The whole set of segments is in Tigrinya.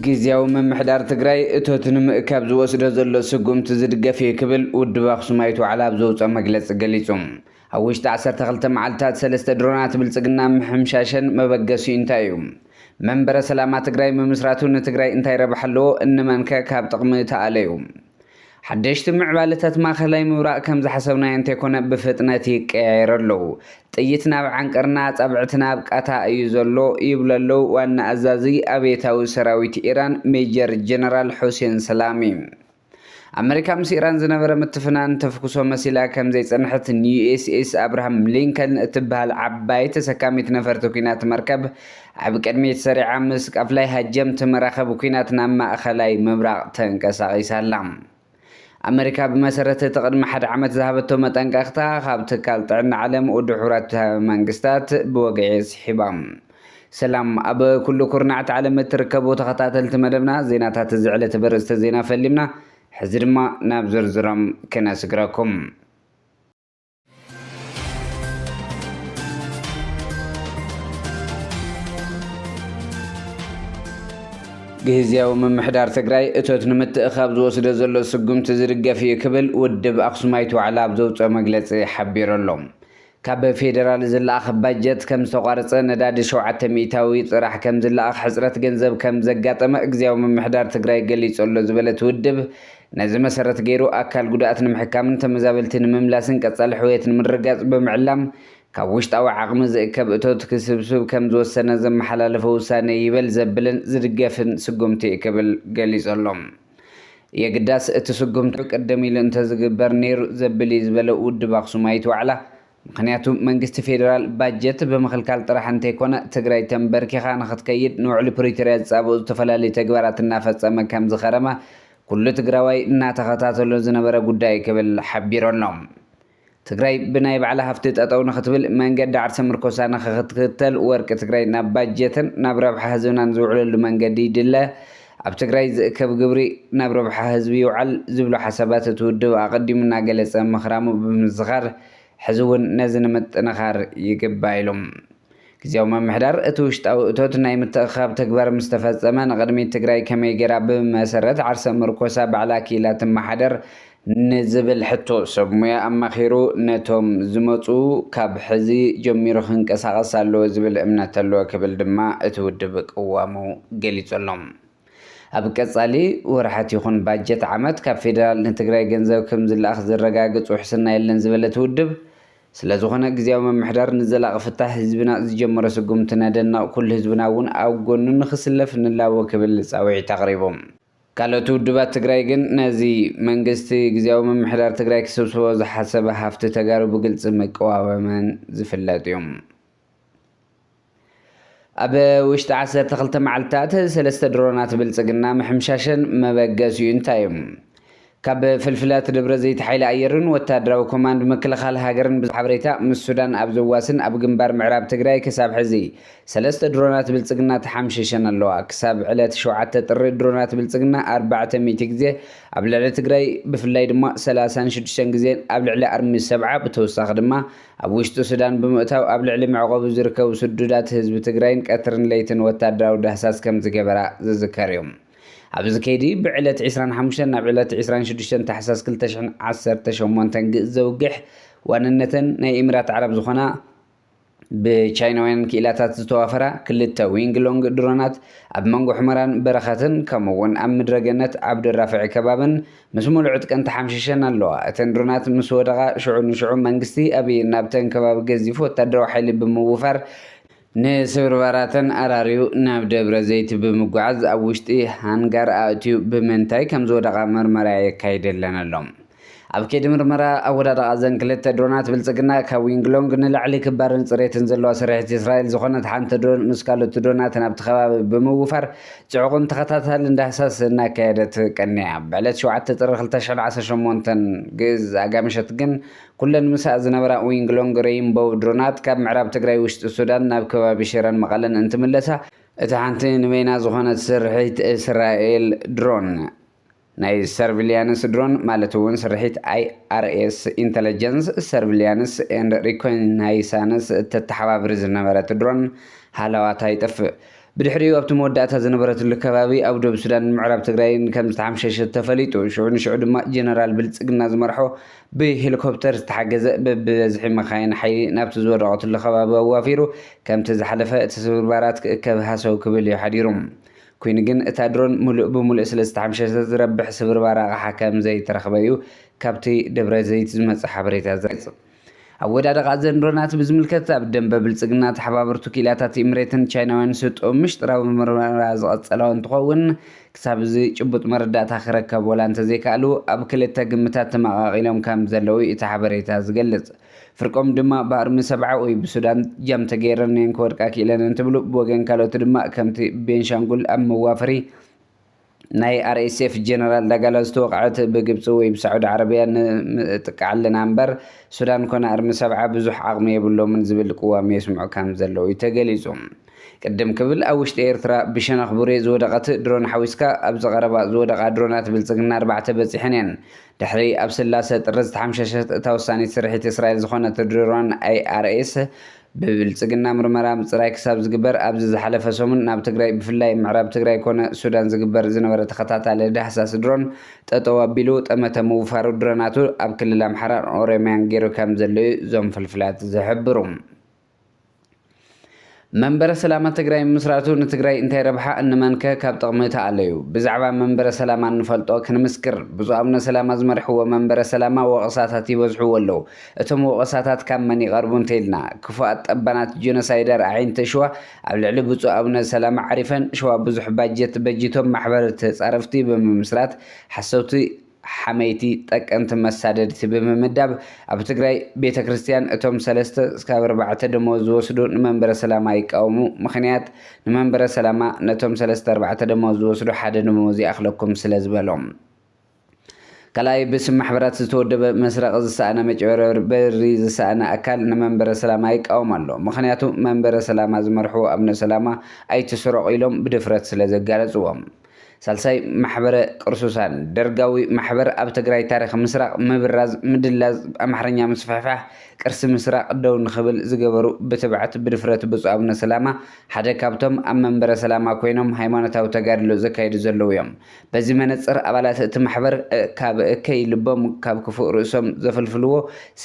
ግዝያዊ ምምሕዳር ትግራይ እቶት ንምእካብ ዝወስዶ ዘሎ ስጉምቲ ዝድገፍ እዩ ክብል ውድብ ኣክሱማይት ዋዕላ ኣብ ዘውፅኦ መግለፂ ገሊፁ። ኣብ ውሽጢ ዓሰርተ ክልተ መዓልታት ሰለስተ ድሮናት ብልፅግና ምሕምሻሸን መበገሲኡ እንታይ እዩ? መንበረ ሰላማ ትግራይ ምምስራቱ ንትግራይ እንታይ ረብሓ ኣለዎ? እንመን ከ ካብ ጥቕሚ ተኣለዩ? ሓደሽቲ ምዕባለታት ማእኸላይ ምብራቕ ከም ዝሓሰብናዮ እንተይኮነ ብፍጥነት ይቀያየሩ ኣለው። ጥይት ናብ ዓንቀርና ኣፃብዕቲ ናብ ቃታ እዩ ዘሎ ይብሉ ኣለው ዋና ኣዛዚ ኣብዮታዊ ሰራዊት ኢራን ሜጀር ጀነራል ሑሴን ሰላሚ። ኣመሪካ ምስ ኢራን ዝነበረ ምትፍናን ተፍኩሶ መሲላ ከም ዘይጸንሐት ንዩኤስኤስ ኣብርሃም ሊንከን እትበሃል ዓባይ ተሰካሚት ነፈርቲ ኩናት መርከብ ኣብ ቅድሚት ሰሪዓ ምስ ቃፍላይ ሃጀምቲ መራኸብ ኩናት ናብ ማእኸላይ ምብራቕ ተንቀሳቒሳ ኣላ። ኣመሪካ ብመሰረት እቲ ቅድሚ ሓደ ዓመት ዝሃበቶ መጠንቀቕታ ካብ ትካል ጥዕና ዓለም ውድብ ሕቡራት መንግስታት ብወግዒ ስሒባ። ሰላም ኣብ ኩሉ ኩርናዓት ዓለም እትርከቡ ተኸታተልቲ መደብና ዜናታት እዚ ዕለቲ በርእስተ ዜና ፈሊምና ሕዚ ድማ ናብ ዝርዝሮም ክነስግረኩም። ግዝያዊ ምምሕዳር ትግራይ እቶት ንምትእኻብ ዝወስዶ ዘሎ ስጉምቲ ዝድገፍ እዩ ክብል ውድብ ኣክሱማይት ዋዕላ ኣብ ዘውፅኦ መግለፂ ሓቢሩ ኣሎ። ካብ ፌደራል ዝለኣኽ ባጀት ከም ዝተቋረፀ፣ ነዳዲ ሸውዓተ ሚኢታዊ ጥራሕ ከም ዝለኣኽ፣ ሕፅረት ገንዘብ ከም ዘጋጠመ ግዚያዊ ምምሕዳር ትግራይ ገሊፁ ኣሎ ዝበለ እቲ ውድብ፣ ነዚ መሰረት ገይሩ ኣካል ጉዱኣት ንምሕካምን ተመዛበልቲ ንምምላስን ቀፃሊ ሕውየት ንምርግጋፅ ብምዕላም ካብ ውሽጣዊ ዓቕሚ ዝእከብ እቶት ክስብስብ ከም ዝወሰነ ዘመሓላለፎ ውሳነ ይበል ዘብልን ዝድገፍን ስጉምቲ እዩ ክብል ገሊፁ ኣሎ። የግዳስ እቲ ስጉምቲ ቅድም ኢሉ እንተዝግበር ነይሩ ዘብል እዩ ዝበለ ውድብ ኣክሱማይት ዋዕላ፣ ምኽንያቱ መንግስቲ ፌዴራል ባጀት ብምኽልካል ጥራሕ እንተይኮነ ትግራይ ተምበርኪኻ ንኽትከይድ ንውዕሊ ፕሪቶሪያ ዝፃበኡ ዝተፈላለዩ ተግባራት እናፈፀመ ከምዝኸረመ ኩሉ ትግራዋይ እናተኸታተሎ ዝነበረ ጉዳይ እዩ ክብል ሓቢሩ ኣሎ። ትግራይ ብናይ ባዕላ ሃፍቲ ጠጠው ንኽትብል መንገዲ ዓርሰ ምርኮሳ ንኽትክተል ወርቂ ትግራይ ናብ ባጀትን ናብ ረብሓ ህዝብናን ዝውዕለሉ መንገዲ ይድለ፣ ኣብ ትግራይ ዝእከብ ግብሪ ናብ ረብሓ ህዝቢ ይውዓል ዝብሉ ሓሳባት እቲ ውድብ ኣቐዲሙ እናገለፀ ምኽራሙ ብምዝኻር ሕዚ እውን ነዚ ንምጥንኻር ይግባእ ኢሉ። ግዝያዊ ምምሕዳር እቲ ውሽጣዊ እቶት ናይ ምትእኽኻብ ተግባር ምስ ተፈፀመ ንቕድሚት ትግራይ ከመይ ገይራ ብመሰረት ዓርሰ ምርኮሳ ባዕላ ክኢላ ትመሓደር ንዝብል ሕቶ ሰብ ሙያ ኣማኺሩ ነቶም ዝመፁ ካብ ሕዚ ጀሚሩ ክንቀሳቐስ ኣለዎ ዝብል እምነት ኣለዎ ክብል ድማ እቲ ውድብ ቅዋሙ ገሊፁ ኣሎ። ኣብ ቀፃሊ ወርሓት ይኹን ባጀት ዓመት ካብ ፌዴራል ንትግራይ ገንዘብ ከምዝለኣኽ ዘረጋግፅ ውሕስና የለን ዝበለ እቲ ውድብ፣ ስለዝኾነ ግዝያዊ ምምሕዳር ንዘላቒ ፍታሕ ህዝብና ዝጀመሮ ስጉምቲ ነደንቕ፣ ኩሉ ህዝብና እውን ኣብ ጎኑ ንኽስለፍ ንላቦ ክብል ፃውዒት ኣቕሪቡ። ካልኦት ውድባት ትግራይ ግን ነዚ መንግስቲ ግዝያዊ ምምሕዳር ትግራይ ክስብስቦ ዝሓሰበ ሃፍቲ ተጋሩ ብግልፂ ምቅዋወመን ዝፍለጥ እዩ። ኣብ ውሽጢ ዓሰርተ ክልተ መዓልትታት ሰለስተ ድሮናት ብልጽግና ምሕምሻሸን መበገሲኡ እንታይ እዩ? ካብ ፍልፍላት ደብረ ዘይት ሓይሊ ኣየርን ወታደራዊ ኮማንድ ምክልኻል ሃገርን ብሓበሬታ ምስ ሱዳን ኣብ ዘዋስን ኣብ ግንባር ምዕራብ ትግራይ ክሳብ ሕዚ ሰለስተ ድሮናት ብልጽግና ተሓምሺሸን ኣለዋ። ክሳብ ዕለት ሸውዓተ ጥሪ ድሮናት ብልጽግና ኣርባዕተ ሚእቲ ግዜ ኣብ ልዕሊ ትግራይ ብፍላይ ድማ ሰላሳን ሽዱሽተን ግዜን ኣብ ልዕሊ ኣርሚ ሰብዓ ብተወሳኺ ድማ ኣብ ውሽጢ ሱዳን ብምእታው ኣብ ልዕሊ መዕቆቢ ዝርከቡ ስዱዳት ህዝቢ ትግራይን ቀትርን ለይትን ወታደራዊ ዳህሳስ ከምዝገበራ ዝዝከር እዩ። ኣብዚ ከይዲ ብዕለት ዕስራን ሓሙሽተን ናብ ዕለት ዕስራን ሽዱሽተን ታሕሳስ ክልተ ሽሕን ዓሰርተ ሸሞንተን ግእዝ ዘውግሕ ዋንነተን ናይ ኢምራት ዓረብ ዝኾና ብቻይናውያን ክኢላታት ዝተዋፈራ ክልተ ዊንግ ሎንግ ድሮናት ኣብ መንጎ ሑመራን በረኸትን ከምኡ እውን ኣብ ምድረ ገነት ዓብደልራፍዕ ከባብን ምስ ሙሉእ ዕጥቀን ተሓምሺሸን ኣለዋ። እተን ድሮናት ምስ ወደቓ ሽዑ ንሽዑ መንግስቲ ኣብይ ናብተን ከባቢ ገዚፍ ወታደራዊ ሓይሊ ብምውፋር፣ ንስብርባራተን ኣራርዩ ናብ ደብረዘይቲ ብምጉዓዝ ኣብ ውሽጢ ሃንጋር ኣእትዩ ብምንታይ ከምዝወደቓ ምርመራ የካይደለን ኣሎ። ኣብ ከይዲ ምርመራ ኣወዳድቓ እዘን ክልተ ድሮናት ብልፅግና ካብ ዊንግሎንግ ንላዕሊ ክባርን ፅሬትን ዘለዋ ስርሒት እስራኤል ዝኾነት ሓንቲ ድሮን ምስ ካልኦት ድሮናት ናብቲ ከባቢ ብምውፋር ጽዑቕን ተኸታታልን ዳህሳስ እናካየደት ቀኒያ። ብዕለት ሸውዓተ ጥሪ ክልተ ሽሕን ዓሰርተ ሸሞንተን፣ ግእዝ ኣጋ ምሸት ግን፣ ኩለን ምስኣ ዝነበራ ዊንግሎንግ ረይንቦው ድሮናት ካብ ምዕራብ ትግራይ ውሽጢ ሱዳን ናብ ከባቢ ሽረን መቐለን እንትምለሳ፣ እታ ሓንቲ ንበይና ዝኾነት ስርሒት እስራኤል ድሮን፣ ናይ ሰርቪልያንስ ድሮን ማለት'ውን ስርሒት ኣይኣርኤስ፣ ኢንተለጀንስ፣ ሰርቪልያንስ ኤንድ ሪኮናይሳንስ፣ እተተሓባብር ዝነበረት ድሮን ሃላዋታ ይጠፍእ። ብድሕሪኡ ኣብቲ መወዳእታ ዝነበረትሉ ከባቢ ኣብ ዶብ ሱዳንን ምዕራብ ትግራይን ከም ዝተሓምሸሸት ተፈሊጡ። ሽዑ ንሽዑ ድማ ጀነራል ብልጽግና ዝመርሖ ብሄሊኮፕተር ዝተሓገዘ በብበዝሒ መካይን ሓይሊ ናብቲ ዝወደቐትሉ ከባቢ ኣዋፊሩ ከምቲ ዝሓለፈ እቲ ስብርባራት ክእከብ ሃሰው ክብል እዩ ሓዲሩ። ኰይኑ ግን፣ እታ ድሮን ምሉእ ብምሉእ ስለ ዝተሓምሸሸት ዝረብሕ ስብርባር ኣቕሓ ከም ዘይተረኽበ'ዩ ካብቲ ደብረዘይት ዝመጽእ ሓበሬታ ዝገልጽ። ኣወዳድቓ እዘን ድሮናት ብዝምልከት፣ ኣብ ደምበ ብልጽግና ተሓባበርቱ ክኢላታት ኢምሬትን ቻይናውያን ዝሰጥኦ ምሽጥራዊ ምርመራ ዝቐጸላኦ እንትኸውን፣ ክሳብ እዚ ጭቡጥ መረዳእታ ክረከብ ወላ እንተዘይከኣሉ፣ ኣብ ክልተ ግምታት ተመቓቒሎም ከም ዘለዉ'ዩ እቲ ሓበሬታ ዝገልጽ። ፍርቆም ድማ ብኣርሚ ሰብዓ ወይ ብሱዳን ጃም ተገይረን እየን ክወድቃ ክኢለን እንትብሉ ብወገን ካልኦት ድማ ከምቲ ቤንሻንጉል ኣብ መዋፈሪ ናይ RSF ጀነራል ዳጋላ ዝተወቕዐት ብግብፂ ወይ ብሳዑዲ ዓረብያ ንጥቃዕ ኣለና እምበር ሱዳን ኮነ ኣርሚ ሰብዓ ብዙሕ ዓቕሚ የብሎምን ዝብል ቅዋም የስምዑ ከም ዘለዉ እዩ ተገሊፁ። ቅድም ክብል ኣብ ውሽጢ ኤርትራ ብሸነኽ ቡሬ ዝወደቐት ድሮን ሓዊስካ ኣብዚ ቀረባ ዝወደቓ ድሮናት ብልፅግና ኣርባዕተ በፂሐን እየን። ድሕሪ ኣብ ስላሰ ጥሪ ዝተሓምሸሸት እታ ወሳኒት ስርሒት እስራኤል ዝኾነት ድሮን IRS ብብልፅግና ምርመራ ምፅራይ ክሳብ ዝግበር ኣብዚ ዝሓለፈ ሰሙን ናብ ትግራይ ብፍላይ ምዕራብ ትግራይ ኮነ ሱዳን ዝግበር ዝነበረ ተኸታታሊ ዳህሳስ ድሮን ጠጠው ኣቢሉ ጠመተ ምውፋሩ ድሮናቱ ኣብ ክልል ኣምሓራን ኦሮሚያን ገይሩ ከምዘሎ'ዩ እዞም ፍልፍላት ዝሕብሩ። መንበረ ሰላማ ትግራይ ምምስራቱ ንትግራይ እንታይ ረብሓ እንመንከ ካብ ጥቕሚ ተኣለዩ? ብዛዕባ መንበረ ሰላማ እንፈልጦ ክንምስክር። ብፁዕ ኣቡነ ሰላማ ዝመርሕዎ መንበረ ሰላማ ወቐሳታት ይበዝሕዎ ኣለዉ። እቶም ወቐሳታት ካብ መን ይቐርቡ እንተይልና? ክፉኣት ጠባናት ጆኖሳይደር ኣዒንቲ ሽዋ ኣብ ልዕሊ ብፁዕ ኣቡነ ሰላማ ዓሪፈን ሽዋ ብዙሕ ባጀት በጂቶም ማሕበር ተፃረፍቲ ብምምስራት ሓሰውቲ ሓመይቲ ጠቀምቲ መሳደድቲ ብምምዳብ ኣብ ትግራይ ቤተ ክርስትያን እቶም ሰለስተ ስካብ ኣርባዕተ ደመወዝ ዝወስዱ ንመንበረ ሰላማ ይቃወሙ ምኽንያት ንመንበረ ሰላማ ነቶም ሰለስተ ኣርባዕተ ደመወዝ ዝወስዱ ሓደ ደመወዝ ይኣኽለኩም ስለ ዝበሎም ካልኣይ ብስም ማሕበራት ዝተወደበ መስረቂ ዝሰኣነ መጭበርበር ብሪ ዝሰኣነ ኣካል ንመንበረ ሰላማ ይቃወም ኣሎ ምኽንያቱ መንበረ ሰላማ ዝመርሕዎ ኣብነ ሰላማ ኣይትስረቑ ኢሎም ብድፍረት ስለ ዘጋለፅዎም ሳልሳይ ማሕበረ ቅርሱሳን ደርጋዊ ማሕበር ኣብ ትግራይ ታሪኽ ምስራቕ ምብራዝ ምድላዝ ኣምሓርኛ ምስፍሕፋሕ ቅርሲ ምስራቕ ደው ንኽብል ዝገበሩ ብትብዓት ብድፍረት ብፁእ ኣቡነ ሰላማ ሓደ ካብቶም ኣብ መንበረ ሰላማ ኮይኖም ሃይማኖታዊ ተጋድሎ ዘካይዱ ዘለዉ እዮም በዚ መነፅር ኣባላት እቲ ማሕበር ካብ እከይ ልቦም ካብ ክፉእ ርእሶም ዘፍልፍልዎ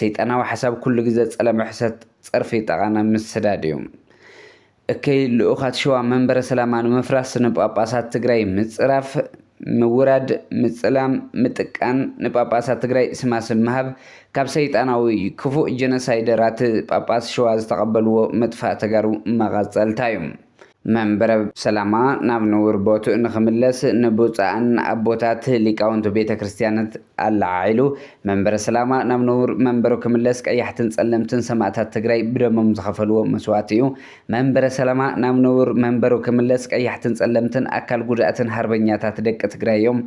ሰይጣናዊ ሓሳብ ኩሉ ግዘ ፀለመ ሕሰት ፀርፊ ጠቓነ ምስዳድ እዩ። እከይ ልኡኻት ሸዋ መንበረ ሰላማ ንምፍራስ ንጳጳሳት ትግራይ ምፅራፍ፣ ምውራድ፣ ምፅላም፣ ምጥቃን፣ ንጳጳሳት ትግራይ ስማ ስም ምሃብ ካብ ሰይጣናዊ ክፉእ ጀኖሳይደራት ጳጳስ ሸዋ ዝተቐበልዎ ምጥፋእ ተጋሩ መቐፀልታ ዩ። መንበረ ሰላማ ናብ ንቡር ቦትኡ ንክምለስ ንብፁዓን ኣቦታት ሊቃውንት ቤተ ክርስቲያንት፣ ኣለዓዒሉ መንበረ ሰላማ ናብ ንቡር መንበሩ ክምለስ ቀያሕትን ፀለምትን ሰማእታት ትግራይ ብደሞም ዝኸፈልዎ መስዋእቲ እዩ። መንበረ ሰላማ ናብ ንቡር መንበሩ ክምለስ ቀያሕትን ፀለምትን ኣካል ጉዳእትን ሃርበኛታት ደቂ ትግራይ እዮም።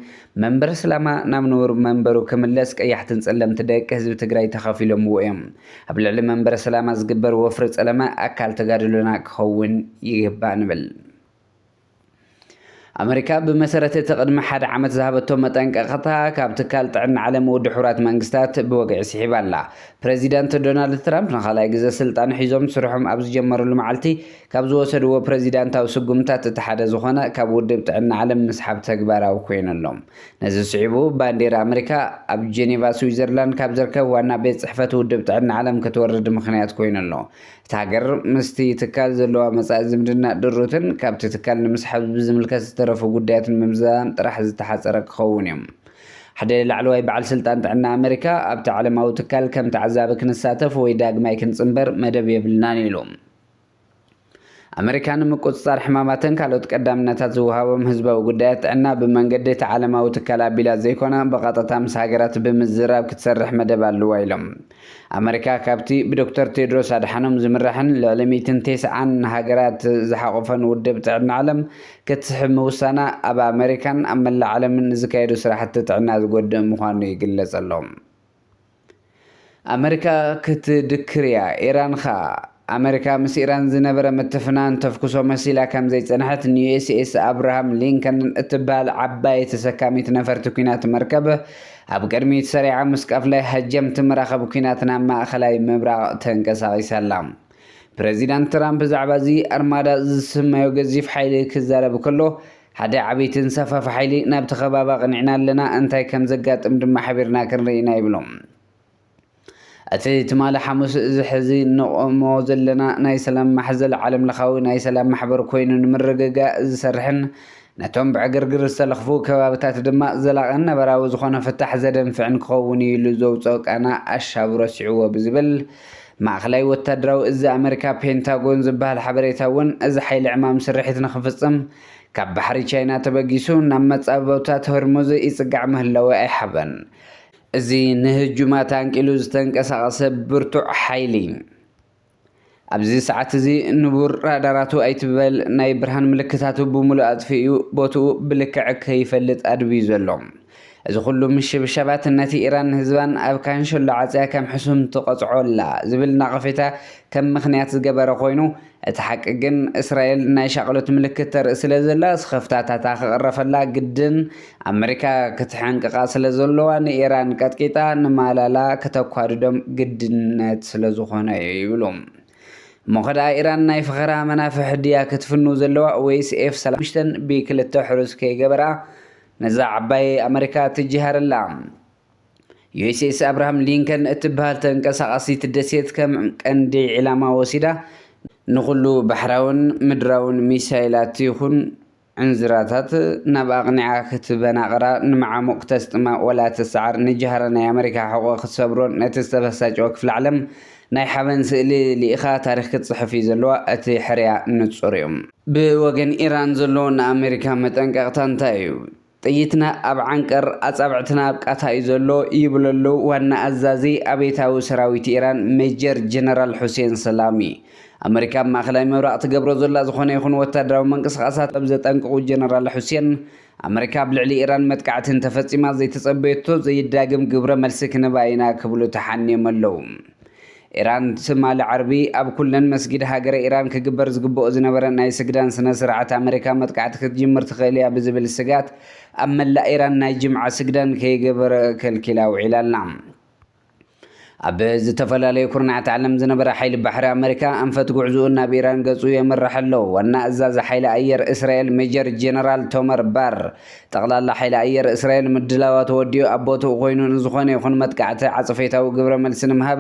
መንበረ ሰላማ ናብ ንቡር መንበሩ ክምለስ ቀያሕትን ፀለምት ደቂ ህዝቢ ትግራይ ተኻፊሎምዎ እዮም። ኣብ ልዕሊ መንበረ ሰላማ ዝግበር ወፍሪ ፀለመ ኣካል ተጋድሎና ክኸውን ይግባእ ንብል። ኣመሪካ ብመሰረት እቲ ቅድሚ ሓደ ዓመት ዝሃበቶ መጠንቀቕታ ካብ ትካል ጥዕና ዓለም ውድ ሕቡራት መንግስታት ብወግዒ ስሒባ ኣላ። ፕረዚዳንት ዶናልድ ትራምፕ ንኻልኣይ ግዘ ስልጣን ሒዞም ስርሖም ኣብ ዝጀመርሉ መዓልቲ ካብ ዝወሰድዎ ፕረዚዳንታዊ ስጉምትታት እቲ ሓደ ዝኾነ ካብ ውድብ ጥዕና ዓለም ምስሓብ ተግባራዊ ኮይኑ ኣሎ። ነዚ ስዒቡ ባንዴራ ኣመሪካ ኣብ ጄኔቫ ስዊዘርላንድ ካብ ዝርከብ ዋና ቤት ፅሕፈት ውድብ ጥዕና ዓለም ክትወርድ ምኽንያት ኮይኑ ኣሎ። እታ ሃገር ምስቲ ትካል ዘለዋ መጻኢ ዝምድና ድሩትን ካብቲ ትካል ንምስሓብ ብዝምልከት ዝተረፉ ጉዳያት ንምምዝዛን ጥራሕ ዝተሓጸረ ክኸውን እዩ። ሓደ ላዕለዋይ በዓል ስልጣን ጥዕና ኣመሪካ፣ ኣብቲ ዓለማዊ ትካል ከም ተዓዛቢ ክንሳተፍ ወይ ዳግማይ ክንጽንበር መደብ የብልናን ኢሉ። ኣመሪካ ንምቁጽጻር ሕማማትን ካልኦት ቀዳምነታት ዝወሃቦም ህዝባዊ ጉዳያት ጥዕና ብመንገዲ እቲ ዓለማዊ ትካል ኣቢላ ዘይኮነ ብቐጥታ ምስ ሃገራት ብምዝራብ ክትሰርሕ መደብ ኣለዋ ኢሎም። ኣመሪካ ካብቲ ብዶክተር ቴድሮስ ኣድሓኖም ዝምራሕን ልዕሊ ሚእትን ቴስዓን ሃገራት ዝሓቖፈን ውድብ ጥዕና ዓለም ክትስሕብ ምውሳና ኣብ ኣመሪካን ኣብ መላእ ዓለምን ንዝካየዱ ስራሕቲ ጥዕና ዝጎድእ ምዃኑ ይግለጽ ኣሎ። ኣመሪካ ክትድክር እያ፣ ኢራን ኸኣ። ኣመሪካ ምስ ኢራን ዝነበረ ምትፍናን ተፍኩሶ መሲላ ከም ዘይጸንሐት ንዩኤስኤስ ኣብርሃም ሊንከን እትበሃል ዓባይ ተሰካሚት ነፈርቲ ኲናት መርከብ ኣብ ቅድሚት ሰሪዓ ምስ ቀፍላይ ሃጀምቲ መራኸቢ ኲናት ናብ ማእኸላይ ምብራቕ ተንቀሳቒሳ ኣላ። ፕረዚዳንት ትራምፕ ብዛዕባ እዚ ኣርማዳ ዝስመዮ ገዚፍ ሓይሊ ክዛረብ ከሎ፣ ሓደ ዓብይ ተንሳፋፊ ሓይሊ ናብቲ ከባቢ ኣቕኒዕና ኣለና፣ እንታይ ከም ዘጋጥም ድማ ሓቢርና ክንርኢ ኢና ይብሉ። እቲ ትማሊ ሓሙስ እዚ ሕዚ እንቖሞ ዘለና ናይ ሰላም ማሕዘል ዓለምለኻዊ ናይ ሰላም ማሕበር ኮይኑ ንምርግጋእ ዝሰርሕን ነቶም ብዕግርግር ዝተለኽፉ ከባብታት ድማ ዘላቕን ነበራዊ ዝኾነ ፍታሕ ዘደንፍዕን ክኸውን እዩ ኢሉ ዘውፅኦ ቃና ኣሻቡ ረሲዕዎ ብዝብል ማእኸላይ ወታደራዊ እዚ ኣመሪካ ፔንታጎን ዝበሃል ሓበሬታ እውን እዚ ሓይሊ ዕማም ስርሒት ንክፍፅም ካብ ባሕሪ ቻይና ተበጊሱ ናብ መፃብቦታት ሆርሙዝ ይፅጋዕ ምህላዉ ኣይሓበን። እዚ ንህጁማት ኣንቂሉ ዝተንቀሳቐሰ ብርቱዕ ሓይሊ፣ ኣብዚ ሰዓት እዚ ንቡር ራዳራቱ ኣይትበል ናይ ብርሃን ምልክታቱ ብምሉእ ኣጥፊኡ ቦትኡ ብልክዕ ከይፈልጥ ኣድብዩ ዘሎ። እዚ ኩሉ ምሽብሻባት ነቲ ኢራን ንህዝባን ኣብ ካንሸሎ ዓጽያ ከም ሕሱም ትቐጽዖ ኣላ ዝብል ናቐፌታ ከም ምኽንያት ዝገበረ ኮይኑ፣ እቲ ሓቂ ግን እስራኤል ናይ ሻቕሎት ምልክት ተርኢ ስለ ዘላ ስኽፍታታታ ክቕረፈላ ግድን ኣመሪካ ክትሕንቅቓ ስለ ዘሎዋ ንኢራን ቀጥቂጣ ንማላላ ክተኳድዶም ግድነት ስለ ዝኾነ'ዩ ይብሉ። እሞ ከደኣ ኢራን ናይ ፈኸራ መናፍሕ ድያ ክትፍኑ ዘለዋ ወይስ ኤፍ ሰላሳ ሓሙሽተ ብ ክልተ ሕሩስ ከይገበራ ነዛ ዓባየይ ኣመሪካ ትጅሃረላ? ዩኤስኤስ ኣብርሃም ሊንከን እትበሃል ተንቀሳቓሲት ደሴት ከም ቀንዲ ዒላማ ወሲዳ ንኹሉ ባሕራውን ምድራውን ሚሳይላት ይኹን ዕንዝራታት ናብ ኣቕኒዓ ክትበናቕራ ንመዓሙቕ ክተስጥማ ወላ ትሰዓር ንጃህራ ናይ ኣመሪካ ሕቖ ክትሰብሮን ነቲ ዝተበሳጨወ ክፍለ ዓለም ናይ ሓበን ስእሊ ልኢኻ ታሪኽ ክትጽሕፍ እዩ ዘለዋ እቲ ሕርያ ንጹር እዩ ብወገን ኢራን ዘሎ ንኣመሪካ መጠንቀቕታ እንታይ እዩ? ጥይትና ኣብ ዓንቀር ኣጻብዕትና ኣብ ቃታ እዩ ዘሎ ይብለሉ ዋና ኣዛዚ ኣብዮታዊ ሰራዊት ኢራን ሜጀር ጀነራል ሑሴን ሰላሚ። ኣመሪካ ኣብ ማእከላይ ምብራቕ ትገብሮ ዘላ ዝኾነ ይኹን ወታደራዊ ምንቅስቓሳት ከም ዘጠንቅቑ ጀነራል ሑሴን፣ ኣመሪካ ኣብ ልዕሊ ኢራን መጥቃዕቲ እንተፈጺማ ዘይተጸበየቶ ዘይዳግም ግብረ መልሲ ክንህባ ኢና ክብሉ ተሓንዮም ኣለዉ። ኢራን ትማሊ ዓርቢ ኣብ ኩለን መስጊድ ሃገረ ኢራን ክግበር ዝግበኦ ዝነበረ ናይ ስግዳን ስነ ስርዓት ኣመሪካ መጥቃዕቲ ክትጅምር ትኽእል እያ ብዝብል ስጋት ኣብ መላእ ኢራን ናይ ጅምዓ ስግዳን ከይገበረ ከልኪላ ውዒላ ኣላ። ኣብ ዝተፈላለዩ ኩርናዓት ዓለም ዝነበረ ሓይሊ ባሕሪ ኣመሪካ ኣንፈት ጉዕዝኡ ናብ ኢራን ገጹ የምርሕ ኣሎ። ዋና ኣዛዚ ሓይሊ ኣየር እስራኤል ሜጀር ጀነራል ቶመር ባር፣ ጠቕላላ ሓይሊ ኣየር እስራኤል ምድላዋቱ ወዲኡ ኣብ ቦትኡ ኮይኑ ንዝኾነ ይኹን መጥቃዕቲ ዓጸፌታዊ ግብረ መልሲ ንምሃብ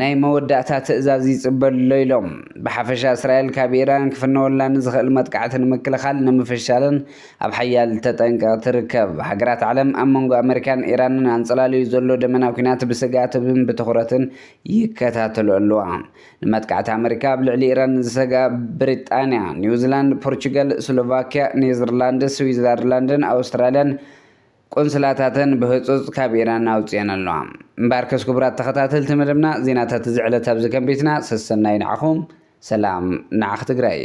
ናይ መወዳእታ ትእዛዝ ይጽበ'ሎ ኢሎም። ብሓፈሻ እስራኤል ካብ ኢራን ክፍነወላ ንዝኽእል መጥቃዕቲ ንምክልኻል ንምፍሻልን ኣብ ሓያል ተጠንቀቕ ትርከብ። ሃገራት ዓለም ኣብ መንጎ ኣመሪካን ኢራንን ኣንጸላልዩ ዘሎ ደመና ኲናት ብስግኣትብን ብትኹረትን ይከታተልኦ'ለዋ። ንመጥቃዕቲ ኣመሪካ ኣብ ልዕሊ ኢራን ዝሰግኣ ብሪጣንያ፣ ኒውዚላንድ፣ ፖርቹጋል፣ ስሎቫክያ፣ ኔዘርላንድስ፣ ስዊዘርላንድን ኣውስትራልያን ቁንስላታተን ብህጹጽ ካብ ኢራን ኣውጺኤን ኣለዋ። እምበኣርከስ ክቡራት ተኸታተልቲ መደብና ዜናታት እዚ ዕለት ኣብዚ ከንቢትና ሰሰናዩ ንዓኹም ሰላም ንዓኽ ትግራይ።